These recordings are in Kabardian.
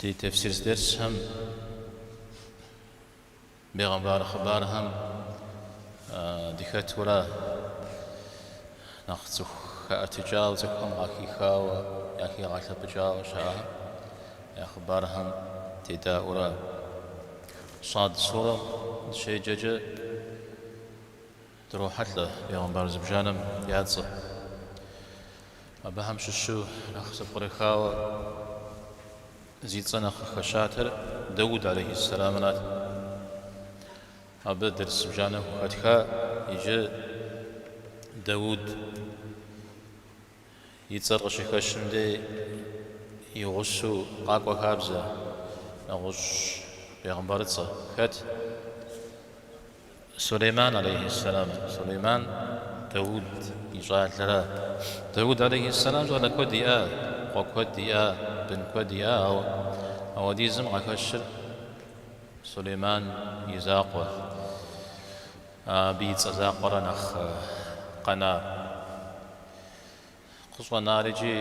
Ди тефсир дерсхэм бегъымбар хъыбархэм дыхэтура нэхъ цӏыху хэӏэтыкӏауэ, цӏыхухэм къахихауэ, яхигъэлъэпӏыкӏауэ щыӏэхэм я хъыбархэм дедаӏуэура Сад сурэ дыщеджэкӏэ Дрохьэлӏэ бегъымбар зыбжанэм я цӏэ. Абыхэм щыщу нэхъ зэпкърыхауэ зи цӏэ нэхъ къыхэщатэр Дауд алейхьиссэламрат. Абы дерс зыбжанэ хухэтха иджы Дауд. И цӏэр къыщыхэщым дей и гъусэу къакӏуэ хабзэ, нэгъуэщӏ бегъымбарыцӏэ. Хэт? Сулейман алейхьиссэлам. Сулейман Дауд и щӏалэра. Дауд алейхьиссэлам щӏалэ куэд иӏа, къуэ куэд иӏа, бын куэд иӏа, ауэ ауэдизым къахэщыр Сулейман и закъуэ. Абы и цӏэ закъуэра нэхъ къэнар. Къыщӏэнар икӏи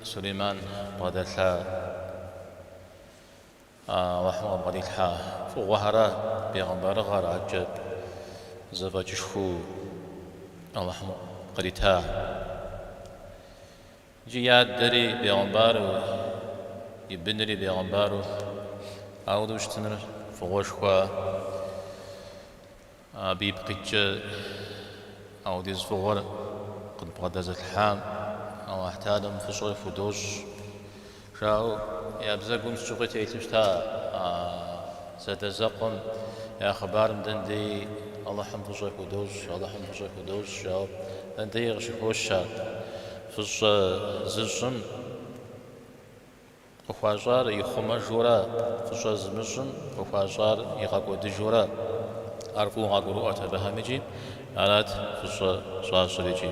Сулейман бгъэдэлъа Алыхьым къыбгъэдилъхьа фӏыгъуэхэра, бегъымбарыгъэр, адэкӏэ зэфӏэкӏышхуэу Алыхьым кърита. Икӏи и адэри бегъымбару, и бынри бегъымбару ауэдэу щытыныр фӏыгъуэшхуэ, абы ипкъ иткӏэ аудиз фӏыгъуэр къыдбгъэдэзылъхьам Алыхьталэм фӏыщӏэ худощӏ. Жаӏэу я бзэгум сыт щыгъуи телъу щыта а зэадэзэкъуэм я хъыбарым, дэндеи Алыхьым фӏыщӏэ худощӏ, Алыхьым фӏыщӏэ худощӏ, жаӏэу дэндеи къыщыхощ ар. Фӏыщӏэ зыщӏым къыхуащӏар ихъумэжура, фӏыщӏэ зымыщӏым къыхуащӏар игъэкӏуэдыжура, ар куууэ къагурыӏуэрт абыхэм икӏи арат фӏыщӏэ щӏащӏыр икӏи.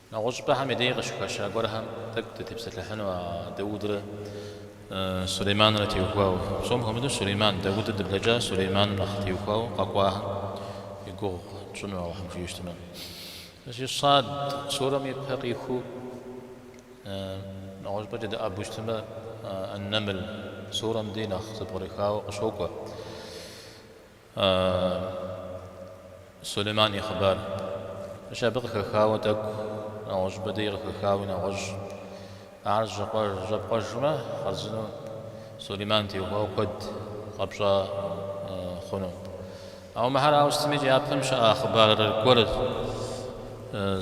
Нэгъуэщӏыпӏэхэм я дей къыщыхэща гуэрхэм тӏэкӏу дытепсэлъыхьыну а Даудрэ Сулейманрэ теухуауэ. Псом хуэмыдэу Сулейман, Дауд дыблэкӏа Сулейманым нэхъ теухуауэ къэкӏуахэм и гугъу тщӏыну Алыхьым жиӏэу щытмэ. Зи Сад сурэм и пэ къихуэу нэгъуэщӏыпӏэкӏэ дыӏэбу щытмэ, Ан-Намл сурэм дей нэхъ зэпкърыхауэ къыщокӏуэ. А Сулейман и хъыбар. Мыщ абы къыхэхауэ тӏэкӏу нэгъуэщӏыпӏэ дей къыхэхауи нэгъуэщӏ. Ар жьэпкъэжмэ, хъарзынэу Сулейман теухуауэ куэд къэпщӏа хъуну. Ауэ мыхьэр ауэ сытмикӏи, япэм щыӏа хъыбар гуэр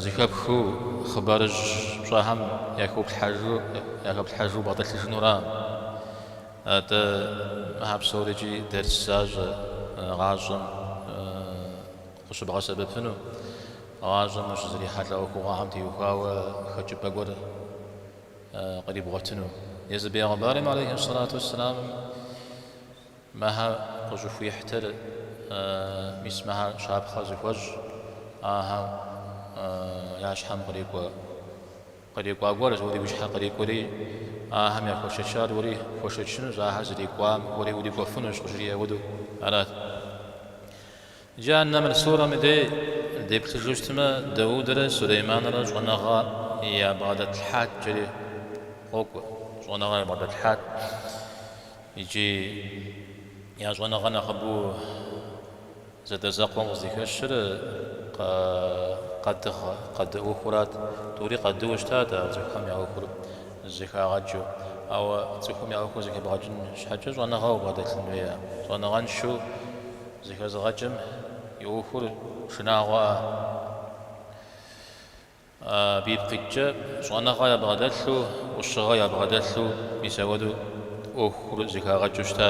зыхэпхыу хъыбарыжь пщӏэхэм яхыплъхьэжу бгъэтӏылъыжынура? Атӏэ, мыхьэ псорикӏи дерс защӏэ гъащӏэм къыщыбгъэсэбэпыну, гъащӏэм ущызэрихьэлӏэ ӏуэхугъуэхэм теухуауэ хэкӏыпӏэ гуэр кърибгъуэтыну. Езы бегъымбарым, алейхи ссалату уэсселам, мыхьэ къыщӏыхуихьтыр, мис мыхьэ щапхъэ зыхуэщӏ ахэр я щхьэм кърикӏуа. Кърикӏуа гуэр уэри уи щхьэ кърикӏуэри, ахэм яхуэшэчар уэри пхуэшэчынущ, ахэр зэрикӏуам уэри урикӏуэфынущ къыжриӏэ хуэдэу арат. Иджы а Нэмл сурэм и дей деплъыжу щытмэ, Даудэрэ Сулейманрэ щӏэныгъэ ябгъэдэтлъхьат жери къокӏуэ. Щӏэныгъэ ябгъэдэтлъхьат икӏи я щӏэныгъэ нэхъыбэу Зэдэзэкъуэм къызыхэщыр къэдыгъ, къэды ӏуэхурат. Тӏури къэдыуэ щытат а цӏыхухэм я ӏуэхур зэхагъэкӏыу. Ауэ цӏыхум я ӏуэхур зэхэбгъэкӏын щхьэкӏэ щӏэныгъэу бгъэдэлъын хуея? Щӏэныгъэншэу зэхэзыгъэкӏым и ӏуэхур шынагъуэ. Абы ипкъ иткӏэ, щӏэныгъэ ябгъэдэлъу, ӏущыгъэ ябгъэдэлъу мис ауэдэу ӏуэхур зэхагъэкӏыу щыта?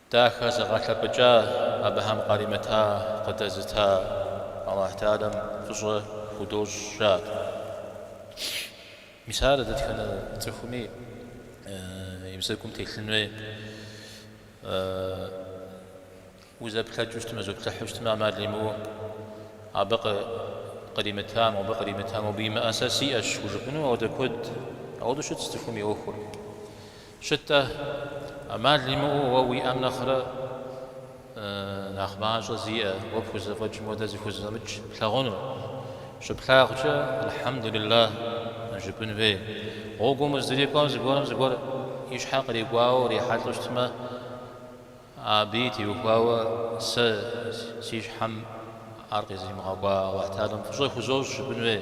Дахэзыгъэлъэпӏыкӏа абыхэм къаримыта къыдэзыта Аллахьталэм фӏыщӏэ худощӏ жаӏат. Мис ар дэтхэнэ цӏыхуми и бзэгум телъын хуей. Узэплъэкӏыу щытмэ, зоплъыхьу щытмэ ӏэмал имыӏэу, абы къримыта мобы къримыта мобы имыӏэ сэ сиӏэщ хужыпӏэну ауэдэ куэд. Ауэдэу щытщ цӏыхум и ӏуэхур. Щытӏэ, ӏэмал имыӏэу уэ уиӏэм нэхърэ нэхъ мащӏэ зиӏэ, уэ пхузэфӏэкӏым хуэдэ зыхузэфӏэмыкӏ плъагъунур. Щыплъагъукӏэ, Алхьэмдулиллахь жыпӏын хуей. Гъуэгум уздрикӏуэм зыгуэрым зыгуэр и щхьэ кърикӏуауэ урихьэлӏэу щытмэ, абыи теухуауэ сэ си щхьэм ар къизымыгъэкӏуа Аллахьталэм фӏыщӏэ хузощӏ жыпӏын хуей.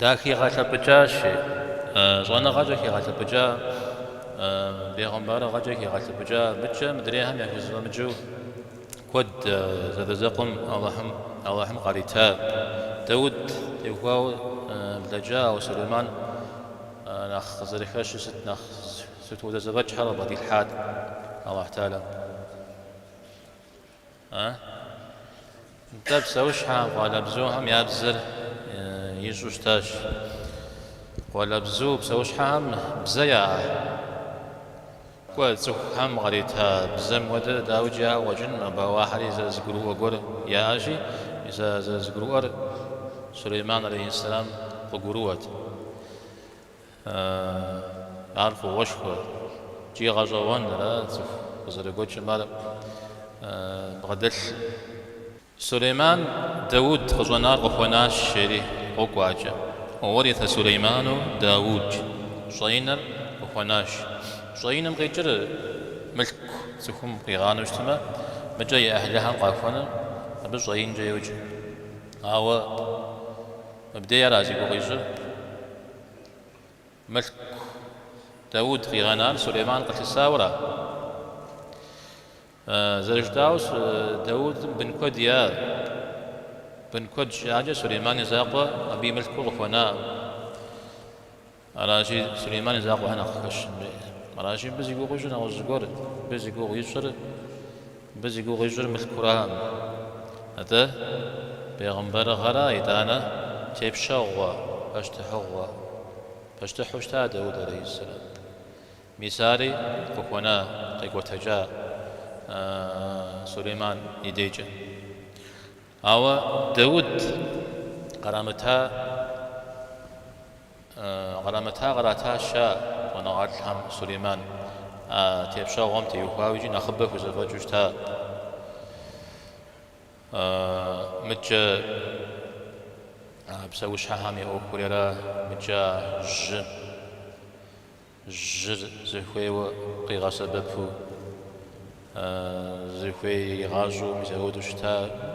Дахигъэлъэпӏыкӏащи, щӏэныгъэкӏэ хигъэлъэпӏыкӏа, бегъымбарыгъэкӏэ хигъэлъэпӏыкӏа мыкӏэ мыдрейхэм яхузэфӏэмыкӏыу куэд зэадэзэкъуэм Алыхьым къарита. Дауд теухуауэ блэкӏа, ауэ Сулейман нэхъ къызэрыхэщыр сыт, нэхъ сыт хуэдэ зэфӏэкӏхэр къыбгъэдилъхьат Алыхь Тахьэла. Нтӏэ, псэущхьэхэм, къуалэбзухэм я бзэр ищӏэу щытащ. Къуалэбзу псэущхьэхэм бзэ яӏэ? Кӏуэ, цӏыхухэм къарита бзэм хуэдэ дауикӏи яӏэу къэкӏынкъым, абы, ауэ ахэри зэрызэгурыӏуэ гуэр яӏэщи, мис а зэрызэгурыӏуэр Сулейман алейхьисэлам къыгурыӏуэт. Э-э, ар фӏыгъуэшхуэ, икӏи гъэщӏэгъуэн, ара цӏыху къызэрыгуэкӏым ар бгъэдэлъыр? Сулейман Дауд къыщӏэнар къыхуэнащ, жери къокӏуэ акӏэ. Уа уариса Сулейману Дауд щӏэинэр къыхуэнащ. Щӏэиным къикӏыр мылъку цӏыхум къигъанэу щытмэ, мыкӏэ и ӏыхьлыхэм къахуэнэу абы щӏэинкӏэ йоджэ. Ауэ Мыбдеж ара зи гугъу ищӏыр? Мылъку Дауд къигъэнар Сулейман къылъысауэра? Зэрыжытӏауэ, Даудым бын куэд иӏа. Бын куэд щиӏакӏэ Сулейман и закъуэ абы и мылъкуу къыхуэнаӏым. Аращи, Сулейман и закъуэ щхьэ нэхъ хэщын хуей. Аращи, мыбы зи гугъу ищӏыр нэгъуэщӏ зыгуэр, мыбы зи гугъу ищӏыр, мыбы зи гугъу ищӏыр мылъкуракъым. Атӏэ, бегъымбэрыгъэрэ итӏанэ тепщэгъуэ, пащтыхьыгъуэ. Пащтыхьу щыта Дауд алейхьиссалам. Мис ари къыхуэна, къекӏуэтэкӏа Сулейман и дейкӏэ. Ауэ Дауд кърамыта кърамыта кърата, жаӏэ щӏэныгъэлӏхэм Сулейман а тепщэгъуэм теухуауэ икӏи нэхъыбэ хузэфӏэкӏыу щыта мыкӏэ а псэущхьэхэм я ӏуэхурера мыкӏэ а жьы жьыр зыхуейуэ къигъэсэбэпу, зыхуей иригъащӏэу мис апхуэдэу щыта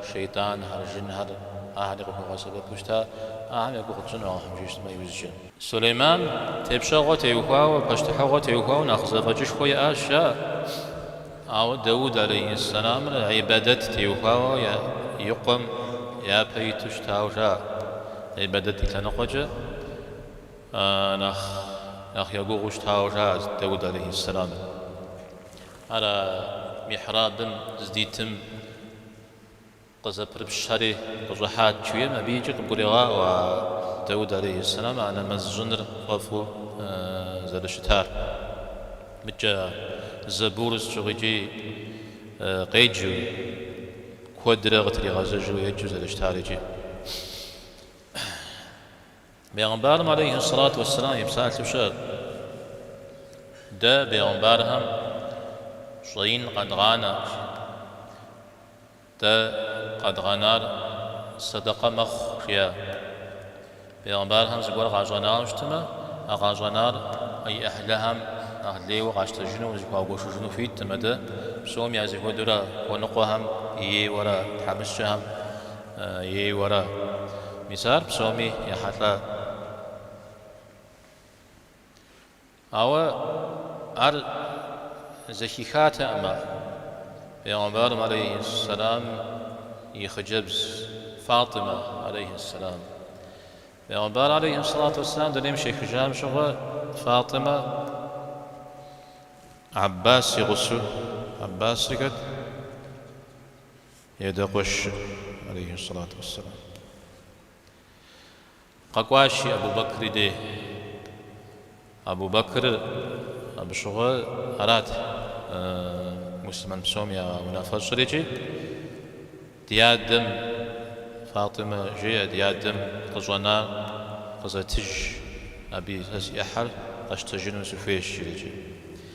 шейтӏанхэр, жинхэр, ахэри къыхуэгъэсэбэпу щыта, ахэм я гугъу тщӏыну Алыхьым жиӏэу щытмэ иужькӏэ. Сулейман тепщэгъуэ теухуауэ, пащтыхьыгъуэ теухуауэ нэхъ зэфӏэкӏышхуэ иӏащ, жаӏэ, ауэ Дауд алейхьэссэламыр ибадэт теухуауэ и къуэм япэ иту щытауэ жаӏэ, ибадэт и лъэныкъуэкӏэ. Нэхъ нэхъ егугъуу щытауэ жаӏэ Даут алейхьиссэлам. Ар а михьрабым здитым къызэпрыпщри къыщӏыхьат, жиӏэм абы икӏи къыбгурегъаӏуэ а Даут алейхьиссэлам а нэмэз щӏыныр фӏэфӏу зэрыщытар. Мыдкӏэ Зэбур сыт щыгъуи икӏи къеджэу, куэдрэ къытригъэзэжу еджэу зэрыщытар икӏи. Бегъымбарым алейхи сэлату уэсселам и псалъэу щыӏэт, Дэ, бегъымбархэм, щӏэин къэдгъанэркъым, дэ къэдгъэнар сэдэкъэ мэхъу, жиӏат. Бегъымбархэм зыгуэр къащӏэнауэ щытмэ, а къащӏэнар а и ӏыхьлыхэм нэхъ лейуэ къащтэжыну, зэхуагуэшыжыну хуиттэкъым, атӏэ псоми я зэхуэдэурэ хуэныкъуэхэм, ейуэрэ тхьэмыщкӏэхэм. Ейуэрэ. Мис ар псоми ехьэлӏа. Ауэ ар зэхихатэкъым а пегъэмбар алейхьэссэлам и хъыджэбз Фатӏимэ алейхьэссэлам. Пегъэмбар алейхьэссэлату уэсселам дунейм щехыжам щыгъуэ Фатӏимэ Аббас и гъусэу, Аббас жыхуаӏэр, И адэ къуэшыр, алейхи сэлату уэсселам, къэкӏуащи, Абу Бэкри де. Абу Бэкрыр абы щыгъуэ арат муслъымэн псом я унафэщӏыр икӏи ди адэм, Фатӏимэ, жеӏэ, ди адэм къыщӏэнар къызэтыж, абы сэ си ӏыхьэр къэщтэжыну сыхуейщ, жреӏэ икӏи.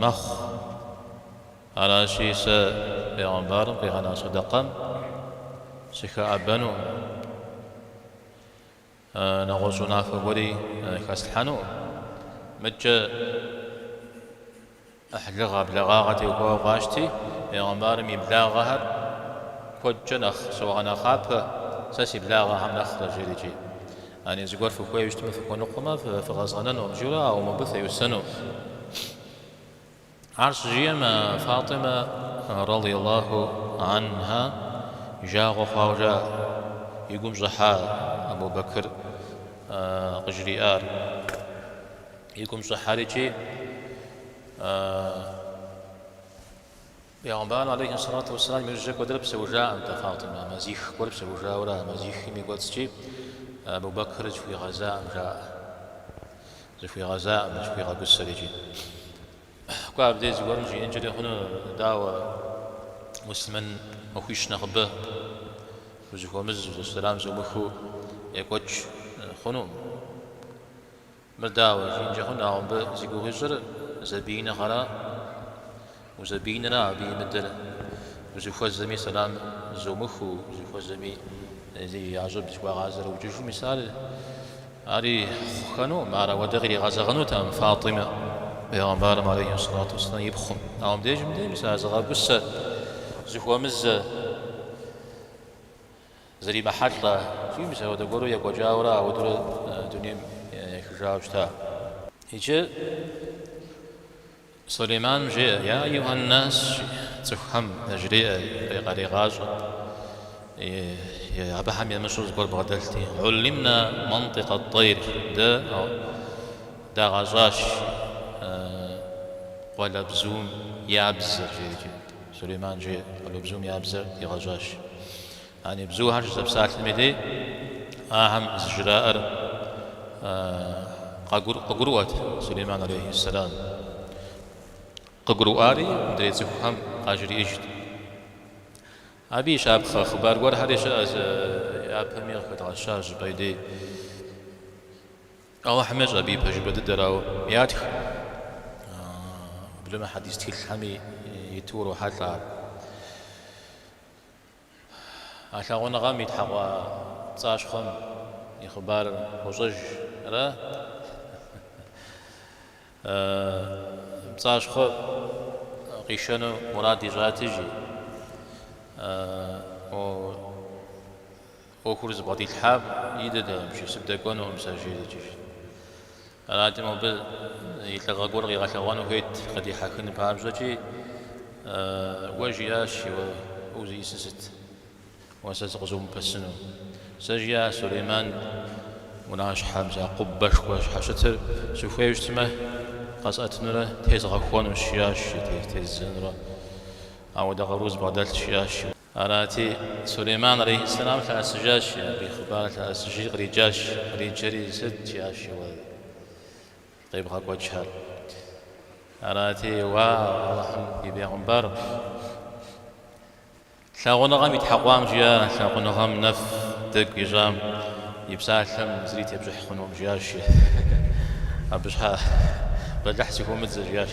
мэхъу. Аращи, сэ пегъэмбарым къигъэна сэдэкъэм сыхэӏэбэну, нэгъуэщӏ унафэ гуэри хэслъхьэну, мыдкӏэ ӏыхьлыгъэ а благъагъэ теухуауэ къапщтэми, пегъэмбарым и благъэхэр куэдкӏэ нэхъ согъэнэхъапэ, сэ си благъэхэм нэхърэ, жери икӏи. Яни зыгуэр фыхуею щытмэ фыхуэныкъуэмэ, фыкъэзгъэнэнукъым журэ, ауэ мыбы феӏусэну. Ар щыжиӏэм, Фатӏимэ, радийаллаху анхьа, и жагъуэ хъуауэ жаӏэ, и гум щӏыхьа Абу Бэкыр къыжриӏар. И гум щӏыхьэри икӏи. Пэйгъэмбар алейхи сэлату уэсселам и ужькӏэ куэдрэ псэужаӏэнтэ Фатӏимэ, мазих гуэр псэужауэрэ а мазихым и кӏуэцӏкӏи Абу Бэкыр зыхуигъэзаӏэм жаӏэ. Зыхуигъэзаӏэм, зыхуигъэгусэр икӏи. Кӏуэ абдей зыгуэрым жиӏэнкӏэри хъуну, дауэ, муслъымэн махуищ нэхъыбэ, узыхуэмызу, сэлам зумыхыу екӏуэкӏ хъунукъым. Мыр дауэ жиӏэнкӏэ хъун, ауэ мыбы зи гугъу ищӏыр зэбииныгъэра? Узэбииныра абы имыдэр? Узыхуэзэми сэлам зумыхыу, узыхуэзэми зи я щӏыб зыхуагъазэрэ ӏукӏыжу, мис ар ари хъухэнукъым, ар ауэдэ къиригъэзэгъынут а Фатӏимэ, Пэйгъэмбарым алейхи сэлату уэсэлам и пхъум. Ауэ мыбдеж мыдэ мис а зыгъэгусэ, зыхуэмызэ. Зэримыхьэлӏэ икӏи мис апхуэдэ гуэру екӏуэкӏауэрэ ауэдурэ дунейм ехыжауэ щыта. Иджы Сулейман жеӏэ, Я Аюхьэн нас, жи, цӏыхухэм яжреӏэ, къарегъащӏэ, абыхэм ямыщӏу зыгуэр бгъэдэлъти, Уллимна мантик ат-тайр, дэ дагъэщӏащ къуалэбзум я бзэр, жери. Сулейман жи къуалэбзум я бзэр дигъэщӏащ. Яни бзухэр щызэпсалъэм и дей, ахэм зыжраӏэр къыгурыӏуэт Сулейман алейхи сэлам. Къыгурыӏуари мыдрей цӏыхухэм къажриӏыжт. Абы и щапхъэ хъыбар гуэрхэри щыӏэщ, япэми къыхэдгъэщащ абы и дей. Алыхьым ещӏэ абы и пэжыпӏэ дыдэр, ауэ ятх. Уеблэмэ хьэдис тхылъхэми иту урохьэлӏэ ар. А лъагъуныгъэм итхьэкъуа пцӏащхъуэм и хъыбарыр фощӏэж ара? Пцӏащхъуэм къишэну мурад ищӏати жи. ӏуэхур зыбгъэдилъхьам идэтэкъым, сыбдэкӏуэнукъым сэ жери икӏи. Арати, абы и лӏыгъэ гуэр къигъэлъэгъуэну хуейт къыдихьэхын папщӏэкӏи, уэ жиӏащ, уэ узиӏысыр сыт, уэ сэ сыкъызумыпэсыну. Сэ жиӏащ, Сулейман унащхьэм сэ къубэшхуэ щхьэщытыр сыхуейуэ щытмэ, къэсӏэтынурэ тезгъэхуэнущ, жиӏащ, тездзэнурэ ауэдэ къару зыбгъэдэлъщ, жиӏащ. Арати, Сулейман алейхьэссэлам лъэӏэсыжащи, абы и хъыбар лъэӏэсыжри къриджащ. Къриджэри, Сыт? жиӏащи, Уэ къебгъэкӏуэкӏхэр. Арати, Уа, Алыхьым и бегъымбар, лъагъуныгъэм итхьэкъуам жиӏэ, лъагъуныгъэм нэф дэгу ищӏам и псалъэм зыри тепщӏыхь хъунукъым, жиӏащи, Абы щхьэ бэлыхь сыхыумыдзэ, жиӏащ.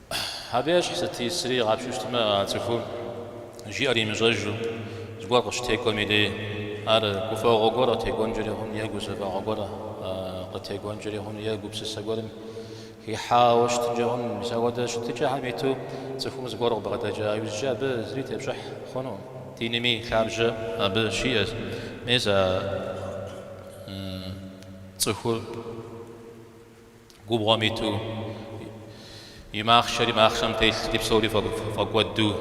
Абы ещхь сыт исри игъапщу щытмэ цӏыхум жиӏэр имыщӏэжу, зыгуэр къыщытекӏуэми дей, ар гуфӏэгъуэ гуэр къытекӏуэнкӏэри хъуну е гузэвэгъуэ гуэр къытекӏуэнкӏэри хъуну е гупсысэ гуэрым хихьауэ щытынкӏэ хъуну, мис апхуэдэ щытыкӏэхэм иту цӏыхум зыгуэр къыбгъэдэкӏа иужькӏэ абы зыри тепщӏыхь хъунукъым. Динми лъабжьэ абы щиӏэщ, мис а цӏыхур. Губгъуэм иту и махъшэри махъшэм телъти псори фӏэкӏуэду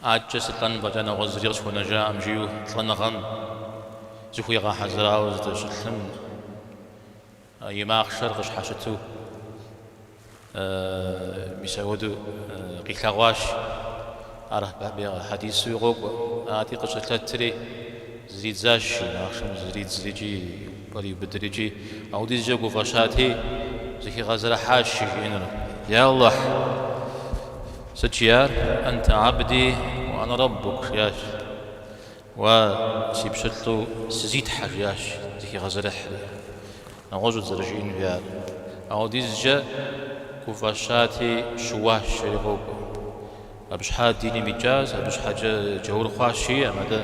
адэкӏэ сылӏэн фӏэкӏа нэгъуэщӏ зыри къысхуэнэжакъым, жиӏэу лӏэныгъэм зыхуигъэхьэзырауэ зыдэщылъым и махъшэр къыщхьэщыту. Мис апхуэдэу къилъэгъуащ. Ар хьэдисуи къокӏуэ. Ати къыщылъэтри зридзащ жи, махъшэм зридзри икӏи кӏуэри иубыдри икӏи ауэдизкӏэ гуфӏэщати, зыхигъэзэрыхьащ жи жиӏэнур, Я Аллахь! Сыт жиӏар? Анта абди ва ана раббук, жиӏащ. Уэ, си пщылӏу, сызитхьэ, жиӏащ, зыхигъэзэрыхьри. Нэгъуэщӏут зэрыжиӏэн жиӏар. Ауэдизкӏэ гуфӏэщати, щыуащ, жери къокӏуэ. Абы щхьа диным икӏащ, абы щхьэкӏэ джаур хъуащ жиӏаӏым, атӏэ,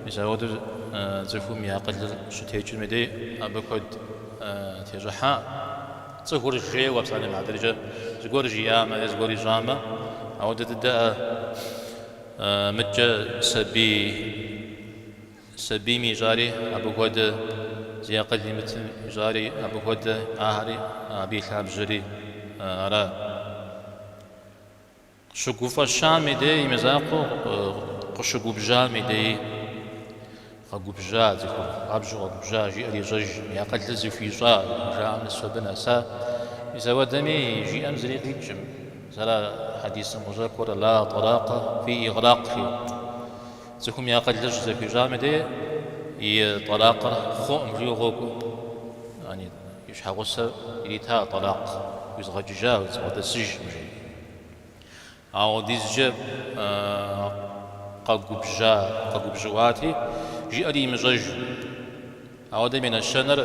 мис апхуэдэу цӏыхум и акъылыр щытекӏым и дей абы куэд тещӏыхьа? Цӏыхур жейуэ псалъэм хьэтыркӏэ зыгуэр жиӏамэ е зыгуэр ищӏамэ, апхуэдэ дыдэӏэ? Мыдкӏэ сабий сабийм ищӏари абы хуэдэ, зи акъыл имытым ищӏари абы хуэдэ, ахэри абы и лъабжьэри ара? Щыгуфӏэщам и дей и мызакъуэу къыщыгубжьам и деи. Къэгубжьа цӏыхур, хуабжьу къэгубжьа, жиӏэр ещӏэж, и акъылыр зыхуищӏа, жаӏэм нэс абы нэса. Мис ауэдэми, жиӏэм зыри къикӏкъым. Мис ара хьэдисым къыщӏэкӏуэр, Ла тӏэлакъэ фи игълакъ, жи. Цӏыхум и акъылыр щызэхуищӏам дей и тӏэлакъыр хъуӏым жиӏэу къокӏуэ. Яни, и щхьэгъусэр ирита тӏэлакъ, Уизгъэкӏыжа, уедзгъэдэсыж, жи. Ауэдизкӏэ къэгубжьа, къэгубжьыӏуати, жиӏэри имыщӏэжу. Ауэдэм и нэщэнэр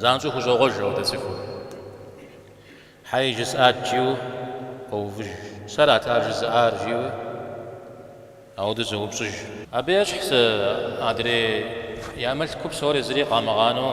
занщӏэу хущӏогъуэж апхуэдэ цӏыхур. Хьей, жысӏат, жиӏэу къоувыж. Сэрат ар жызыӏар, жиӏэу ауэдэу зоупщӏыж. Абы ещхьщ адрей я мылъку псори зыри къамыгъанэу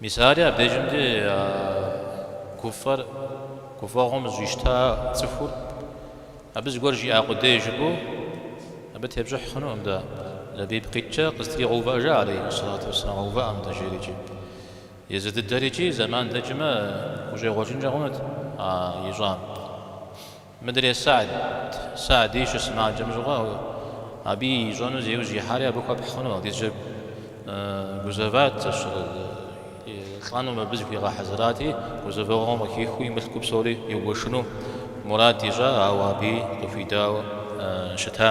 Мис ари абдежым дей гуфӏэр, гуфӏэгъуэм зэщӏищта цӏыхур, абы зыгуэр жиӏа къудей жыпӏэу, абы тепщӏыхь хъунукъым дэ, Лэбиб къиткӏэ къызэтригъэувыӏэжа алейхи сэлату уэссэлам, къэувыӏэ мыдэ, жери икӏи. Езы дыдэр икӏи зэман дэкӏмэ, хущӏегъуэжынкӏэ хъунут а ищӏам. Мыдрей Са'д, Са'ди щысымаджэм щыгъуэ, абы ищӏэну зи ужь ихьари абы хуэпхь хъуну, апхуэдизу гузэват, лӏэну мыбы зыхуигъэхьэзырати, гузэвэгъуэм къыхихыу и мылъку псори игуэшыну мурад ищӏа, ауэ аби къыхуидауэ щыта.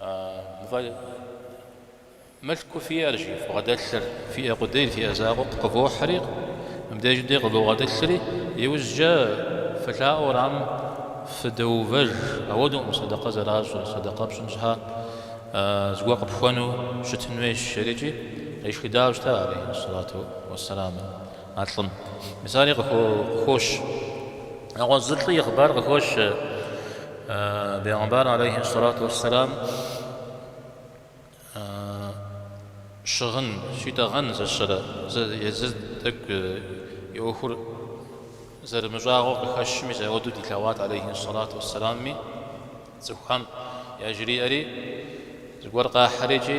Мы фэ мылъку фиӏэр, жи, фбгъэдэлъыр, фиӏэ къудейр, фиӏэ закъуэ къывохьри, мыбдежым дей къывогъэтӏылъри, иужькӏэ фылъаӏуэу уэрам фыдоувэж, ауэдукъым сэдэкъэ зэращӏыр, сэдэкъэ пщӏын щхьа зыгуэр къыпхуэну щытын хуейщ, жери икӏи къешхыдауэ щыта алейхиссалату уассаламэ. А лӏым мис ари къыхощ. Нэгъуэщӏ зы лӏы и хъыбар къыхощ Бегъымбар алейхи сэлату уэсселам щыгъын, щитӏэгъэн зэщэрэ, езыр тӏэкӏу и ӏуэхур зэрымыщӏагъуэу къыхэщу, мис ауэдэу дилъэгъуат алейхи сэлату уэсселамми, цӏыхухэм яжриӏэри, зыгуэр къахьэри икӏи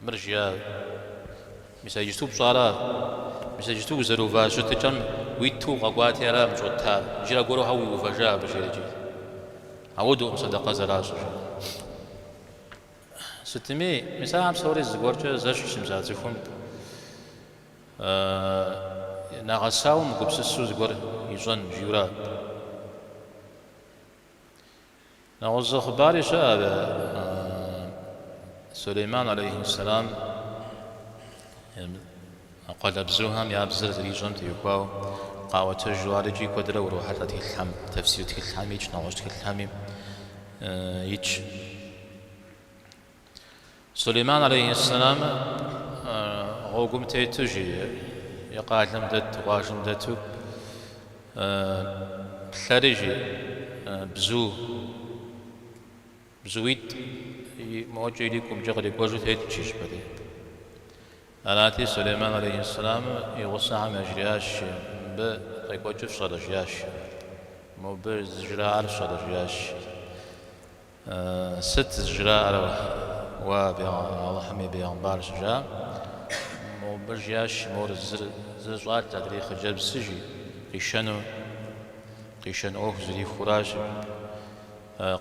Мыр жиӏа, мис а иджыпсту пщӏара? Мис а иджыпсту узэрыува щытыкӏэм уиту укъэкӏуати ара мыр щӏыуэттар? Иджы аргуэру хьэуэ уиувэжа абы, жери икӏи ауэдукъым сэдэкъэ зэращӏыр, жери. Сытми, мис ахэр псори зыгуэркӏэ зэщхьщи, мис а цӏыхум нэгъэсауэ мыгупсысу зыгуэр ищӏэн, жиӏэурэ абы. Нэгъуэщӏ хъыбари щыӏэ ар Сулейман алейхи сэлам къуалэбзухэм я бзэр зэрищӏэм теухуауэ къаӏуэтэжу ар икӏи куэдрэ урохьэлӏэ тхылъхьэм, тэфсир тхылъхьэми икӏ, нэгъуэщӏ тхылъхьэми икӏ. Сулейман алейхьэссэламэ гъуэгум тету жи и къалэм дэт, къуажэм дэту плъэри жи бзу бзуитӏ мокӏэ или кумкӏэ кърикӏуэжу тету жи щпэри. Арати Сулейман алейхьэссэламэ и гъусэхэм яжриащ жи мыбы къекӏуэкӏыр фщӏэрэ жиащ. Мобы зэжраӏар фщӏэрэ жиащ. Сыт зыжраӏэр уэ абы Алыхьым и бегъымбар щыжа? Мобы жиӏащ, Мор зыр зыщӏар, адрей хъыджэбзщ жи, къишэну, къишэн ӏуэху зрихуращ.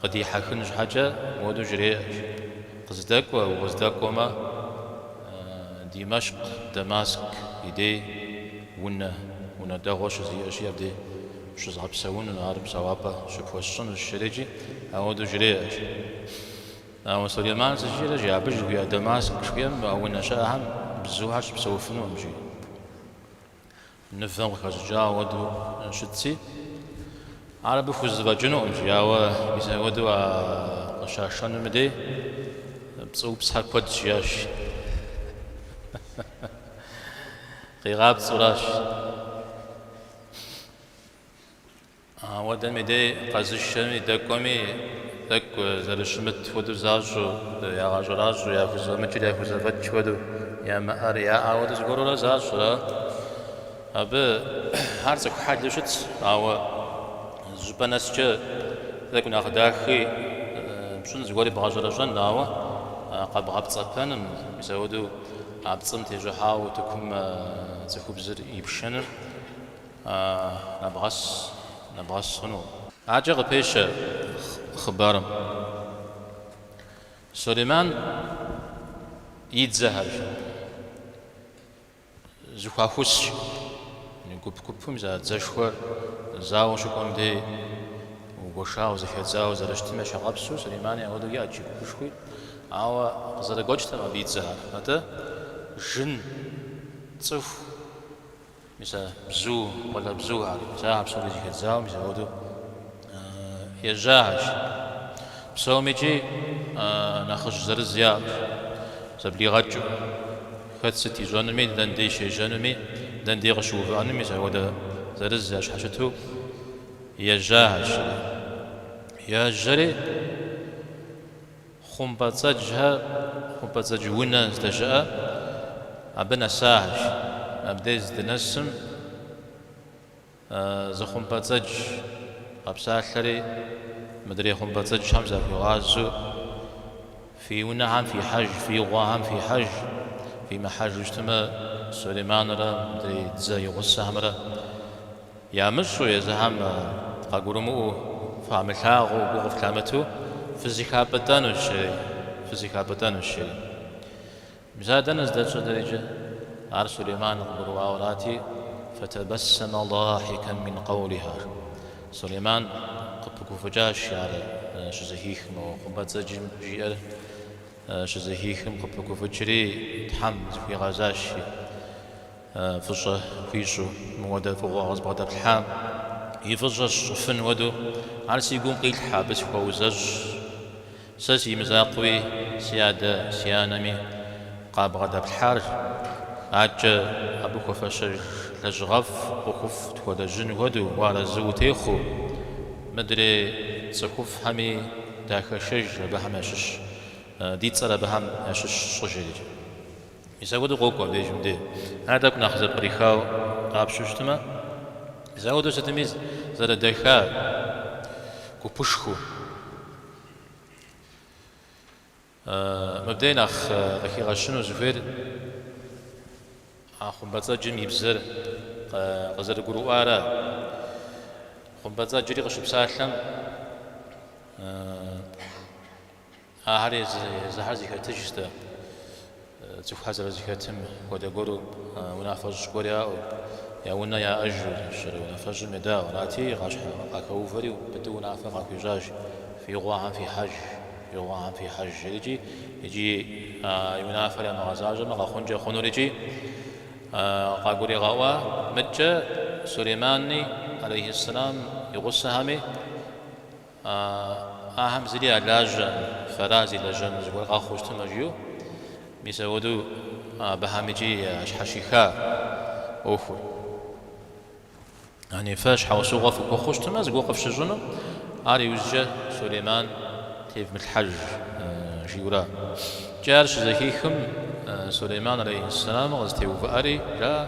Къыдихьэхын щхьэкӏэ моуэдэу жреӏэ, Къыздэкӏуэ, укъыздэкӏуэмэ, Димэщкъ, Дамаск и дей, унэ, унэ дэгъуэ щызиӏэщи, абдей. Пщызгъэпсэуну ар псэуапӏэ щыпхуэсщӏынущ, жреӏэкӏи, ауэдэу жреӏэщ. Ауэ Сулейман щӏыжиӏэращ, Абы жыхуиӏэ Дамаск жыхуиӏэм а унэ щыӏэхэм бзухэр щыпсэуфынукъым, жи. Мывэм къыхэщӏыкӏа ауэдэу щытти, ар абы хузэфӏэкӏынукъым, жи. Ауэ мис ауэдэу а къыщашэнум и дей пцӏыупсхэр куэд щыӏэщ. Къигъапцӏэуращ. Ауэдэм и дей къэзышэми, дэкӏуэми, тӏэкӏу зэрыщымыт хуэдэу защӏэу, ягъэщӏэращӏэу, яхузэфӏэмыкӏыр яхузэфӏэкӏ хуэдэу, ямыӏэр яӏэ хуэдэу зыгуэрурэ защӏ. Абы ар цӏыху хьэлу щытщ, ауэ зыщӏыпӏэ нэскӏэ тӏэкӏу нэхъ дахи пщӏын, зыгуэри бгъэщӏэрэщӏэн, ауэ къэбгъэпцӏэпэным, мис ауэдэу а пцӏым тещӏыхьауэ утыкум цӏыхубзыр ипшэным. нэбгъэс, нэбгъэс хъуну. Абыкӏэ къыпещэ хъыбарым. Сулейман и дзэхэр зэхуахусщ, гуп-гупым зэрыдзэшхуэр зауэ щыкӏуэм дей гуэшауэ, зэхэдзауэ зэрыщытым ещхьыркъабзэу, Сулеймани ауэдэу иӏащ жи гупышхуи, ауэ къызэрыгуэкӏтэкъым абы и дзэхэр. Атӏэ, жын, цӏыху. Мис а бзу, къуалэбзухэр, мис а псори зэхэдзауэ мис ауэдэу ежьахэщ. Псомикӏи нэхъыжь зырыз яӏэщ, зэблигъэкӏыу. Хэт сыт ищӏэнуми, дэн дей щежьэнуми, дэн дей къыщыувыӏэнуми мис апхуэдэ зырыз ящхьэщыту ежьахэщ. Ежьэри. Хъумпӏэцӏэджхэр, хъумпӏэцӏэдж унэ здэщыӏэ, абы нэсахэщ. Абдей здынэсым, зы хъумпӏэцӏэдж къэпсалъэри, мыдрей хъумпӏэцӏэджхэм захуигъазэу, Фи унэхэм фихьэж, фи гъуэхэм фихьэж, фимыхьэжу щытмэ, Сулейманрэ мыдрей дзэ и гъусэхэмрэ, Ямыщӏу, езыхэм къагурымыӏуэу, фамылъагъуу, гу къыфлъамыту фызыхапӏытӏэнущи, фызыхапӏытӏэнущи. Мис а дэнэ здэщӏыр иджы? Ар Сулейман къыгурыӏуауэ арати, фэтабэссэмэ даахьикэн мин къэулиха. Сулейман къыпыгуфӏыкӏащ ар щызэхихым, о, хъумпӏэцӏэджым жиӏэр щызэхихым къыпыгуфӏыкӏри, Тхьэм зыхуигъэзащи. Фӏыщӏэ хуищӏу мы уэдэ фӏыгъуэ къызбгъэдэплъхьам и фӏыщӏэ сщӏыфын хуэдэу, ар си гум къилъхьэ, абы сыхуэузэщӏ. Сэ си мызакъуэуи, си адэ, си анэми къабгъэдэплъхьар аткӏэ абы хуэфэщэж лэжьыгъэфӏ ӏуэхуфӏ тхуэлэжьын хуэдэу уарэзы утехъуу, мыдрей цӏыхуфӏхэми дахэшэж абыхэм ящыщ, ди цӏэр абыхэм ящыщ щӏыжри. Мис апхуэдэу къокӏуэ абдежым де. Ар тӏэкӏу нэхъ зэпкърихау къапщу щытмэ, мис апхуэдэу сытми зэрыдэха гупышхуэу. Мыбдей нэхъ къыхигъэщыну зыхуейр а хъумпӏэцӏэджым и бзэр къызэрыгурыӏуара. Хъумпӏэцӏэджри къыщыпсалъэм Ахэр езыхэр зэхэтыжщ-тӏэ, цӏыхухэр зэрызэхэтым хуэдэ гуэру унафэщӏ гуэр яӏэу, я унэ яӏэжу щӏэрэ унафэщӏым едаӏуэ арати, игъащхьэ къахэувэри быдэу унафэ къахуищӏащ, Фи гъуанэм фихьэж, фи гъуанэм фихьэж, жиӏэрикӏи, икӏи и унафэр ямыгъэзащӏэмэ къэхъункӏэ хъунурикӏи, къагуригъэӏуа мыткӏэ Сулеймани алейхьэссэлам и гъусэхэми, А Ахэм зыри ялажьэ, фэращ зи лажьэну зыгуэр къэхъуу щытымэ, жиӏэу. Мис апхуэдэу абыхэм икӏи ящхьэщиха ӏуэхур. Яни фэ щхьэусыгъуэ фыхуэхъуу щытымэ зыгуэр къыфщыщӏыну, ар иужькӏэ Сулейман тевмылъхьэж, жиӏэура. Икӏи ар щызэхихым, Сулейман алейхьэссэлам къызэтеувыӏэри, жаӏэ.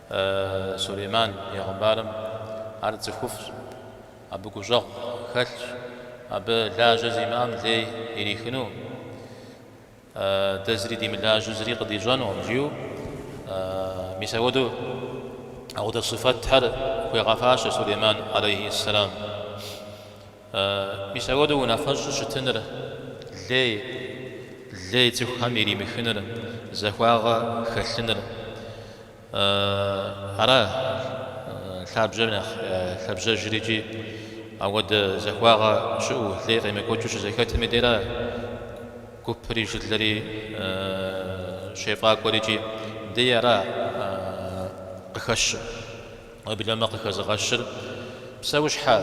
Сулейман пегъымбарым ар цӏыхуфӏщ, абы гущӏэгъу хэлъщ, абы лажьэ зимыӏэм лей ирихыну, дэ зыри димылажьэу зыри къыдищӏэнукъым жиӏэу мис апхуэдэу апхуэдэ сыфэтхэр хуегъэфащэ Сулейман алейхьи ссэлам. Мис апхуэдэу унафэщӏу щытыныр, лей, лей цӏыхухэм иримыхыныр, захуагъэ хэлъыныр, ара лъабжьэр нэхъ лъабжьэжыр икӏи ауэдэ захуагъэ щыӏэу, лей къемыкӏуэкӏыу щызэхэтым и дера гупри жылэри щефӏакӏуэр икӏи дей ара къыхэщыр? Уеблэмэ къыхэзыгъэщыр псэущхьэ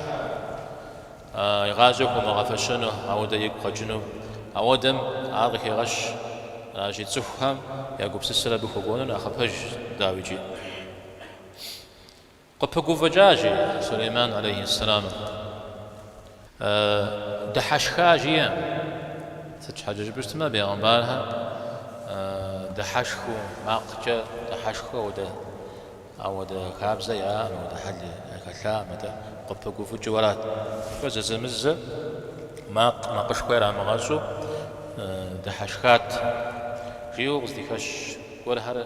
игъащӏэ хуумыгъэфэщэну, ауэдэ игу къэкӏыну. Ауэдэм ар къыхегъэщ аращи, цӏыхухэм я гупсысэр абы хуэкӏуэну нэхъ пэжщ, дауи икӏи. Къыпыгуфӏыкӏа, жи, Сулейман алейхьэссэламым, дыхьэшха, жиӏэм. Сыт щхьэкӏэ жыпӏэу щытмэ, бегъымбархэр дыхьэшхыу, макъкӏэ дыхьэшхыу, ауэдэ. Ауэдэ хабзэ яӏэкъым, ауэдэ хьэли яхэлъакъым, атӏэ къыпыгуфӏыкӏыуэрат. Фэ зэзэмызэ макъ макъышхуэ ярамыгъэщӏу дыхьэшхат, жиӏэу къыздихэщ гуэрхэр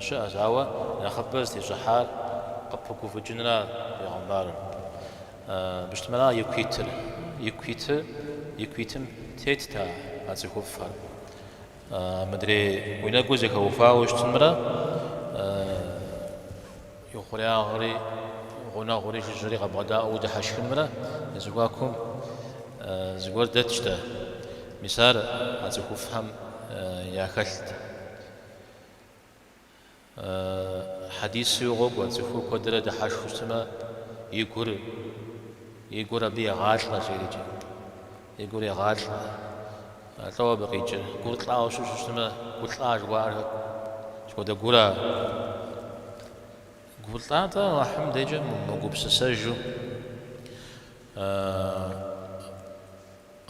щыӏэщ, ауэ нэхъыбэ зытещӏыхьар къыпыгуфӏыкӏынрат бегъымбарым. Быщытмэра ику итыр, ику итыр, ику итым тетт а цӏыхуфӏхэр. Мыдрей уи нэгур зэхэуфауэ щытынмрэ и хъуреягъри гъунэгъури жыжьэри къэбгъэдаӏуэу удыхьэшхынмрэ я зэхуакум зыгуэр дэтщ-тӏэ. Мис ар а цӏыхуфӏхэм яхэлът. Хьэдисуи къокӏуэ, цӏыхур куэдрэ дыхьэшхыу щытмэ, и гур, и гур абы егъалӏэ, жерикӏи. И гур егъалӏэ. Лӏо абы къикӏыр. Гур лӏауэ щыщу щытмэ, гу лӏа жыхуаӏэр сыт хуэдэ гура? Гур лӏа-тӏэ Аллахьым декӏэ мыгупсысэжу,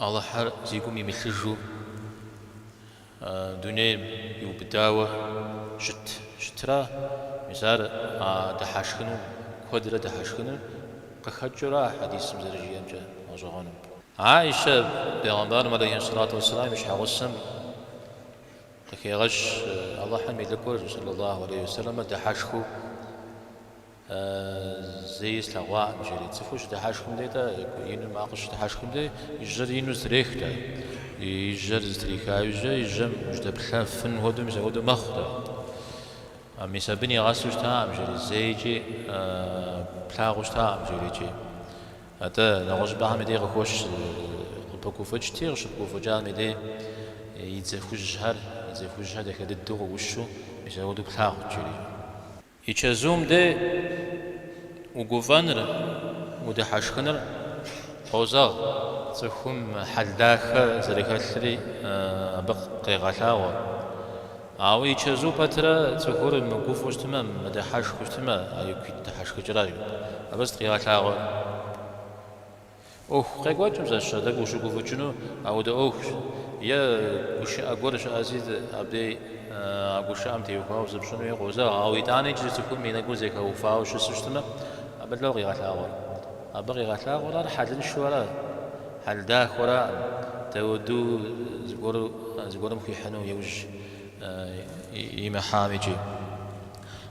Аллахьыр зи гум имылъыжу. дунейм иубыдауэ щыт щытра, мис ар дыхьэшхыну, куэдрэ дыхьэшхыну къыхэкӏыура а хьэдисым зэрыжиӏэмкӏэ гъэщӏэгъуэным? Аишэ бегъымбарым алейхи сэлату уэсселам и щхьэгъусэм къыхегъэщ Алыхьым и лӏыкӏуэр сэллаллаху алейхи уэсэлэмыр дыхьэшхыу. Зэи слъэгъуакъым, жери. Цӏыхур щыдыхьэшхым дей-тӏэ, ину макъыр щыдыхьэшхым дей, и жьэр ину зэтрех-тӏэ. И жьэр зэтриха жьэ, и жьэм жьэдэплъэфын хуэдэу, мис апхуэдэу мэхъу-тӏэ. Мис абы нигъэсу щытакъым, жери. Зэикӏи плъагъуу щытакъым, жерикӏи. Атӏэ, нэгъуэщӏыпӏэхэм и дей къыхощ, къыпыгуфӏыкӏти, къыщыпыгуфӏыкӏам и дей и дзэ хужьхэр, и дзэ хужьхэр дахэ дыдэу къыӏущу, мис апхуэдэу плъагъут, жери. И чэзум де угуфӏэныр, удыхьэшхыныр къозэгъ, цӏыхум хьэл дахэ зэрыхэлъри абы къегъэлъагъуэ. Ауэ и чэзу пэтрэ цӏыхур мыгуфӏэу щытмэ, мыдыхьэшхыу щытмэ, ар ику ит дыхьэшхыкӏэращ. Абы сыт къигъэлъагъуэр? ӏуэху къекӏуэкӏым зэщхьыр, дэ къыущыгуфӏыкӏыну аудэ ӏуэхущ, е гушыӏэ гуэр щыӏэзи абдей а гушыӏэм теухуауэ зыпщӏын хуей къозэгъ, ауэ итӏанэ иджыри цӏыхум и нэгур зэхэуфауэ щысу щытмэ, абы лӏэу къигъэлъагъуэр. Абы къигъэлъагъуэр ар хьэлыншэу ара, хьэл дахэу ара, дауэду зыгуэрым хуихьыну иужь имыхьам икӏи.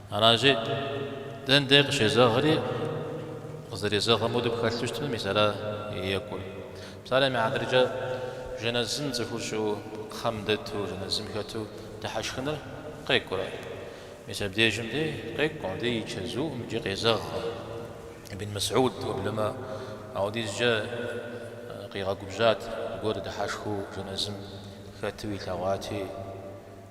Аращи, дэндей къыщезэгъри, къызэрезэгъым хуэдэу пхэлъу щытмэ, мис ара и екӏур? Псалъэм и хьэтыркӏэ, жэнэзым цӏыхур щыӏэу, кхъэм дэту, жэнэзым хэту дыхьэшхыныр къекӏурэ? Мис абдежым де къекӏум, абдеж и чэзуум икӏи къезэгъкъым. Ибн Мэсьуд уеплъмэ, аудизкӏэ къигъэгубжьат, зыгуэр дыхьэшхыу жэнэзым хэту илъэгъуати.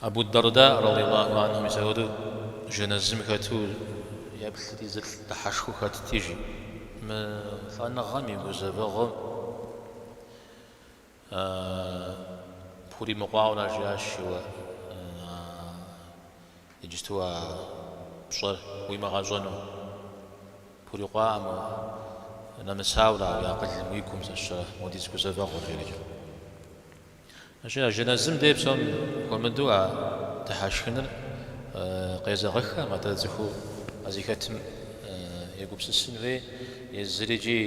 Абу-Дарда радийаллаху анхум мис ауэду жэнэзым хэту еплъыти, зы лӏы дыхьэшхыу хэтти, жи. Мы лӏэныгъэм и гузэвэгъуэм пхуримыкъуауэ ара, жиӏащ, Еуэ, иджысту а пщӏэр уимыгъэщӏэну пхурикъуакъым уэ, нэмысауэ ара уи акъылым, уи гум зыщӏа хуэдиз гузэвэгъуэр, жери. Ищӏи а жэнэзым дей псом хуэмыдэу а дыхьэшхыныр къезэгъыххэм, атӏэ цӏыхур а зыхэтым егупсысын хуей, езыри икӏи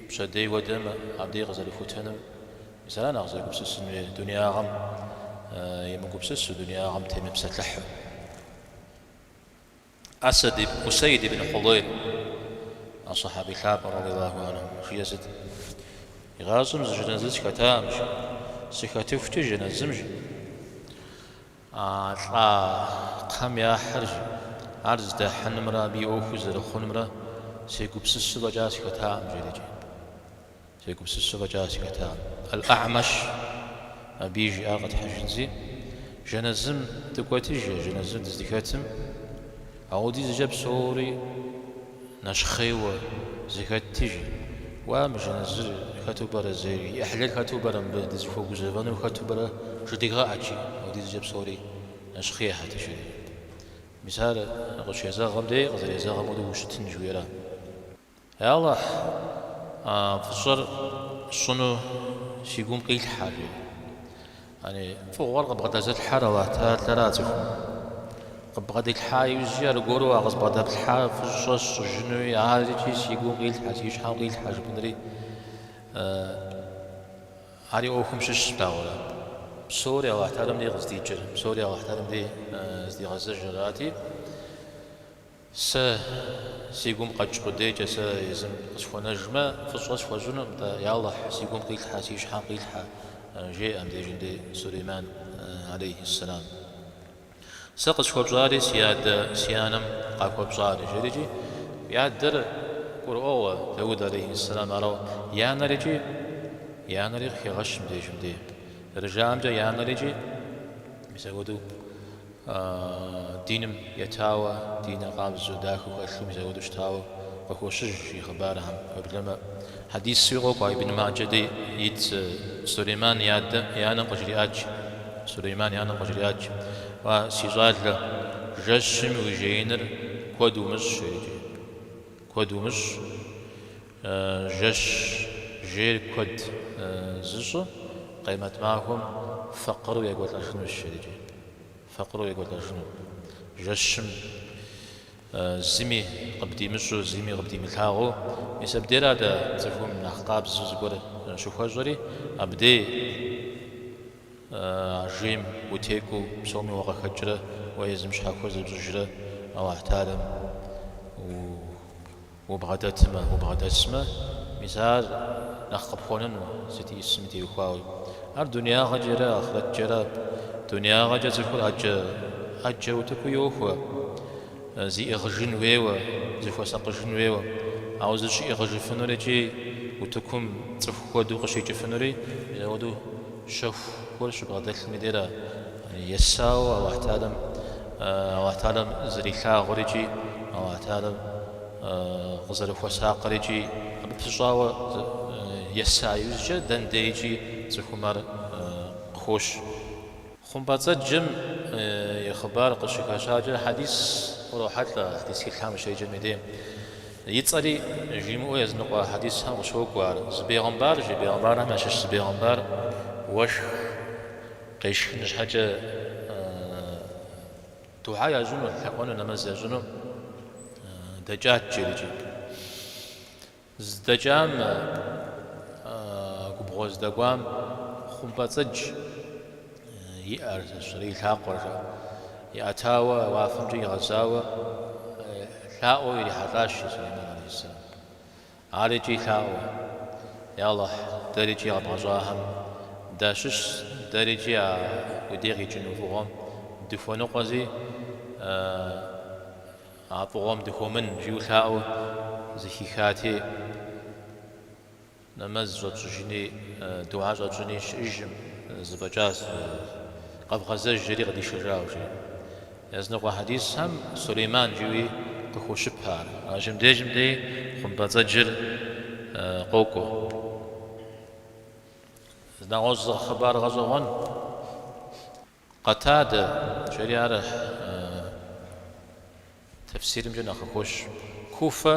пщэдей хуэдэм абдей къызэрыхутэнум, мис ара нэхъ зэгупсысын хуейр, дунеягъэм емыгупсысу, дунеягъэм темыпсэлъыхьу. Усейд ибн Худейр, а сахьэби лъапӏэр, радиаллаху анхум, жиӏэ сыт? Игъащӏэм зы жэнэзы схэтаӏым, жи, сыхэтыхукӏэ жэнэзым жи, а лӏа кхъэм яхьыр жи, ар здахьынымрэ абы и ӏуэхур зэрыхъунымрэ сегупсысу фӏэкӏа схэтакъым, жери икӏи. Сегупсысу фӏэкӏа сыхэтам. Аль-А'маш абыи жиӏар къэтхьыжынзи, Жэнэзым дыкӏуэти, жи, жэнэзым дыздыхэтым, аудизкӏэ псори нэщхъейуэ зэхэтти, жи. Уа, мы жэнэзыр хэту пӏэрэ зейр, и ӏыхьлыр хэту пӏэрэ мыбы дызыхуэгузэвэнур хэту пӏэрэ жыдигъэӏэт икӏи, аудизкӏэ псори нэщхъейхэт жери. Мис ар къыщезэгъым дей къызэрезэгъым хуэдэу ущытын жыхуиӏэр? Ялыхь, фӏыщӏэр сщӏыну си гум къилъхьэ, жи. Яни, фӏыгъуэр къыбгъэдэзылъхьэр Алыхь Тэхьэлара цӏыхум? Къыбгъэдилъхьа иужькӏэ аргуэру а къызбгъэдэплъхьа фӏыщӏэ сщӏыжынуи арикӏи си гум къилъхьэ, си щхьэм къилъхьэ жыпӏэнри ари ӏуэхум щыщщ, дауэрэ. Псори Алыхь Тэхьэлам дей къыздикӏыр, псори Алыхь Тэхьэлам дей здигъэзэжырати, Сэ си гум къэкӏ къудейкӏэ сэ езым къысхуэнэжмэ, фӏыщӏэ схуэщӏынуӏым, я Алыхь, си гум къилъхьэ, си щхьэм къилъхьэ, жеӏэ мыбдежым-дей Сулейман, алейхьэссэлам. Сэ къысхуэпщӏари си адэ, си анэм къахуэпщӏари, жери икӏи и адэр гурыӏуэгъуэ, Дауд, алейхьэссэлам, арауэ, и анэр икӏи и анэри къыхегъэщ мыбдежым-дей. Зэрыжаӏэмкӏэ, и анэр икӏи мис апхуэдэу. Диным етауэ, диныр къабзэу, дахэу хэлъу, мис апхуэдэу щытауэ къыхощыж и хъыбархэм. Уеблэмэ хьэдисуи къокӏуэ, Ибн Маджэ де ит Сулейман и анэм къыжриӏат, жи, Сулейман и анэм къыжриӏат, жи, Уа, си щӏалэ, жэщым уи жеиныр куэд умыщӏ, жери, куэд умыщӏ. Жэщ жейр куэд зыщӏыр Къемэт махуэм фэкъыру екӏуэлӏэжынущ, жери икӏи. Фэкъыру екӏуэлӏэжыну. Жэщым зыми къыбдимыщӏу, зыми къыбдимылъагъуу, мис абдейр адэ цӏыхум нэхъ къабзэу зыгуэр щыхуэщӏэри, абдей а жейм утекӏуу, псоми уакъыхэкӏрэ уэ езым щхьэхуэ зыпщӏыжрэ Алыхьталэм у. Убгъэдэтмэ, убгъэдэсмэ, мис ар нэхъ къыпхуэнэну сыт исми теухуауи. Ар дуниягъэкӏэрэ ахърэткӏэрэ. Дуниягъэкӏэ цӏыхур ӏэджэ, ӏэджэ утыку йохуэ, зиӏыгъыжын хуейуэ, зыхуэсакъыжын хуейуэ. Ауэ зыщиӏыгъыжыфынур икӏи утыкум цӏыху хуэдэу къыщикӏыфынури, мис апхуэдэу щэхухэр щыбгъэдэлъым и дейра. Есауэ Алыхь, Алыхьталэм зэрилъагъур икӏи Алыхьталэм къызэрыхуэсакъыр икӏи абы пыщӏауэ еса иужькӏэ дэн дейкӏи цӏыхум ар къыхощ. Хъумпӏэцӏэджым и хъыбар къыщыхэщакӏэ хьэдис урохьэлӏэ, хьэдис тхылъхэм ущеджэм и дейм. И цӏэри жимыӏэу языныкъуэ хьэдисхэм къыщокӏуэ ар. Зы бегъымбар жи бегъымбархэм ящыщ зы бегъымбар уэшх Къешхыну щхьэкӏэ дугьа ящӏыну, лъэӏуэну, нэмэз ящӏыну дэкӏат жери икӏи. Здэкӏам, губгъуэ здэкӏуам хъумпӏэцӏэдж и ӏэр, зыщӏыр, и лъакъуэр жаӏэ, иӏэтауэ уафэмкӏэ игъэзауэ лъаӏуэу ирихьэлӏащ Сулейман алейхиссалам. Ар икӏи лъаӏуэу. Я Алыхь, дэр икӏи къэбгъэщӏахэм дащыщщ, дэр икӏи а Уи дей къикӏыну фӏыгъуэм дыхуэныкъуэзи, а фӏыгъуэм дыхыумын, жиӏэу лъаӏуэу зыхихати, нэмэз щӏэтщӏыжыни, дугьэ щӏэтщӏыни щыӏыжым, зэфӏэкӏащ, къэвгъэзэж, жери къыдишэжауэ, жи. Языныкъуэ хьэдисхэм Сулейман жиӏэуи къыхощыпэ ар. Ажэм дежым дей хъумпӏэцӏэджыр къокӏуэ. Нэгъуэщӏ зы хъыбар гъэщӏэгъуэн. Къэтадэ жери ар тэфсирымкӏэ нэхъ къыхощ. Куфэ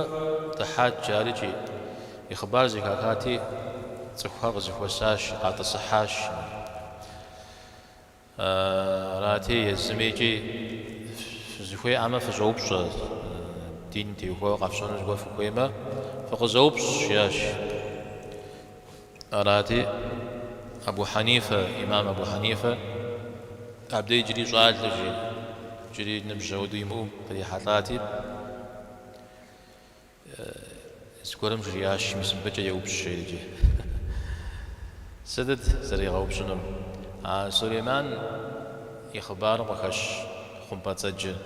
дыхьат жари икӏи, и хъыбар зэхахати, цӏыхухэр къызэхуэсащ, къатӏысыхьащ. Арати, езыми икӏи фызыхуей щыӏэмэ, фыщӏэупщӏэ, дин теухуауэ къэфщӏэну зыгуэр фыхуеймэ, фыкъызэупщӏ, жиӏащ. Арати, Абу Хьэнифэ, ӏимам Абу Хьэнифэ, абдэ иджыри щӏалэ жи, иджыри ныбжь ауэдэу имыӏэу кърихьэлӏати, Зыгуэрым жриӏащ, мис мыбыкӏэ еупщӏ жери икӏи. Сытыт зэригъэупщӏынум? А Сулейман и хъыбарым къыхэщ хъумпӏэцӏэджыр.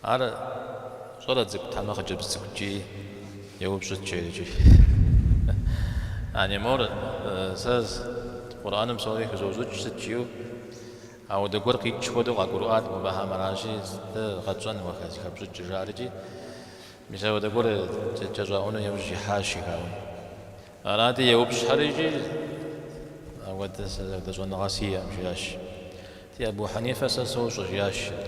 Ар щӏалэ цӏыкӏут хьэмэ хъыджэбз цӏыкӏу икӏи еупщӏыт жери икӏи. Яни мор, сэ Къурӏэным псори хызощӏыкӏ сыт жиӏэу? Ауэдэ гуэр къикӏ хуэдэу къагурыӏуат мыбыхэм аращи, дэ къэтщӏэн уэхэ зыхэпщӏыкӏыр жари икӏи, мис ауэдэ гуэр кӏэщӏаӏуэну яужь ихьащ жигаун. Арати, еупщӏхэри икӏи ауэдэ щӏэныгъэ сиӏэм, жиӏащ. Ди Абу Хьэнифэ сэ сощӏэ, жиӏащ ар.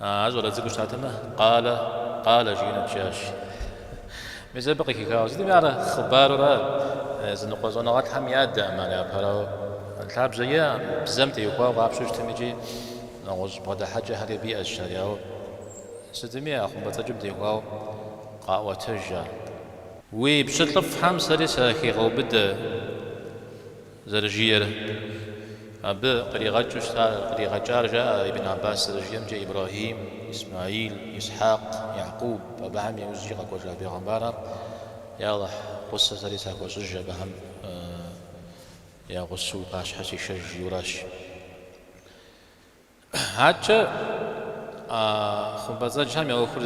Ар щӏалэ цӏыкӏуу щытатэмэ, къалэ, къалэ жиӏэнут жиӏащ. Мис абы къыхихауэ сытми а хъыбарыр ар, языныкъуэ щӏэныгъэлӏхэм ядэӏым ар, япэрауэ, лъабжьэ иӏэкъым, бзэм теухуауэ къапщтэу щытмэ икӏи нэгъуэщӏ бгъэдыхьэкӏэхэри абы иӏэщ ар, ауэ сытми а хъумпӏэцӏэджым теухуауэ къаӏуэтэж ар. Уи пщылӏыфӏхэм сэри сахигъэубыдэ. зэрыжиӏэр. Абы къригъэкӏыу щыта, къригъэкӏар, жаӏэ Ибн Аббас зэрыжиӏэмкӏэ, Ибрахим, Исмаил, Исхьэкъ, Якъуб, Абыхэм я ужькӏэ къэкӏуэжа бегъымбархэр, я Алыхь, гъусэ сэри сахуэщӏыж абыхэм я гъусэу уи пащхьэ сишэж жиӏэуращ. Аткӏэ а хъумпӏэцӏэджхэм я ӏуэхур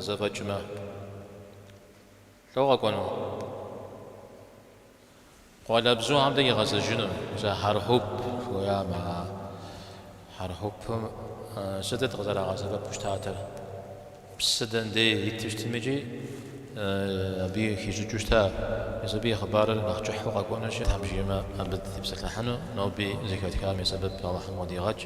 зэфӏэкӏмэ, лӏо къэкӏуэну? Къуалэбзухэм дей игъэзэжыну зы хьэрхьуп хуеямэ, а хьэрхьупым сытыт къызэрагъэсэбэпу щытатыр? Псы дэнэ дей иту щытми икӏи абы хищӏыкӏыу щыта? Мис абы и хъыбарыр нэхъ кӏыхьу къэкӏуэнущи, Тхьэм жиӏэмэ абы дытепсэлъыхьыну, ноби зыхэтхам и сэбэп Алыхьым къыдигъэкӏ.